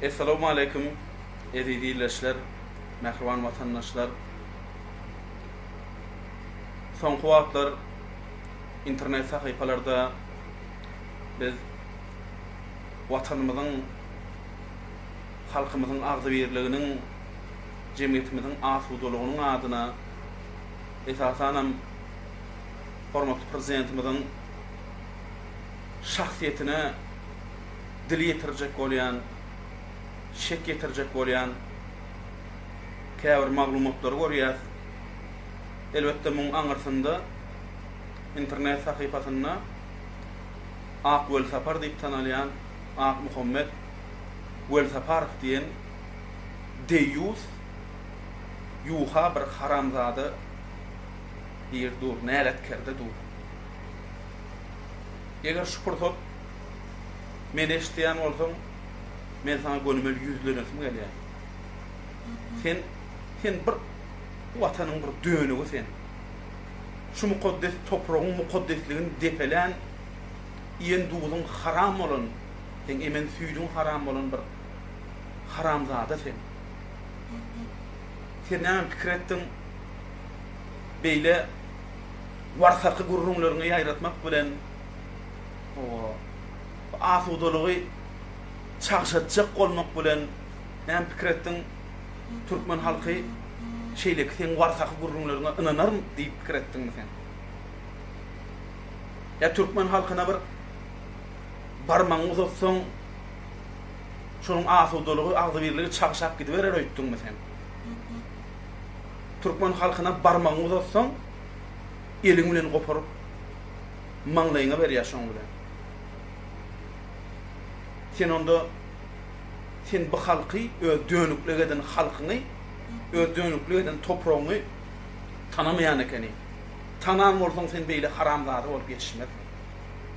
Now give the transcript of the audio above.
Essalawmaleýkum eziz ildeşler, mähriban watandaşlar! Soňky wagtlar internet sahypalarda biz Watanymyzyň, halkymyzyň agzybirliginiň, jemgyýetimiziň asudalygynyň adyna, esasanam hormatly Prezidentimiziň, şahsyýetine dil ýetirjek bolýan, şek ýetirjek bolýan käbir maglumatlary görýäs. Elbetde muň aňyrsynda internet sahypasynda Ak Welsapar diýip tanalýan Akmuhammet Welsaparow diýen deýýus ýuwha bir haramzada bir dur, näletkerde dur. Eger şu pursat meni eşidýän bolsaň, men saňa gönümel ýüzlenesim gelýär. Sen, sen bir bu Watanyň bir dönügi sen. Şu mukaddes topragyň mukaddesligini depelän, iýen duzuň haram bolan, seň emen süýdüň haram bolan bir haramzada sen. Sen näme pikir etdiň? Beýle Warsarky gürrüňleriňi ýaýratmak bilen bu asudalygy çagşatjak bolmak bilen näme pikir etdiň? Türkmen halky şeýleki seň warsarky gürrüňleriňe ynanarm diýip pikir etdiňmi sen? Ýa türkmen halkyna bir barmagyňy uzatsaň, şonuň asudalygy, agzybirligi çagşap gidiberer öýtdüňmi sen? Türkmen halkyna barmagyňy uzatsaň, eliň bilen goparyp, maňlaýyňa berýär şoň bilen. Sen onda, sen bu halky, öz dönüklik eden halkyňy, öz dönüklik eden topragyňy tanamaýan ekeniň. Tanan bolsaň sen beýle haramzada bolup ýetişmezdiň.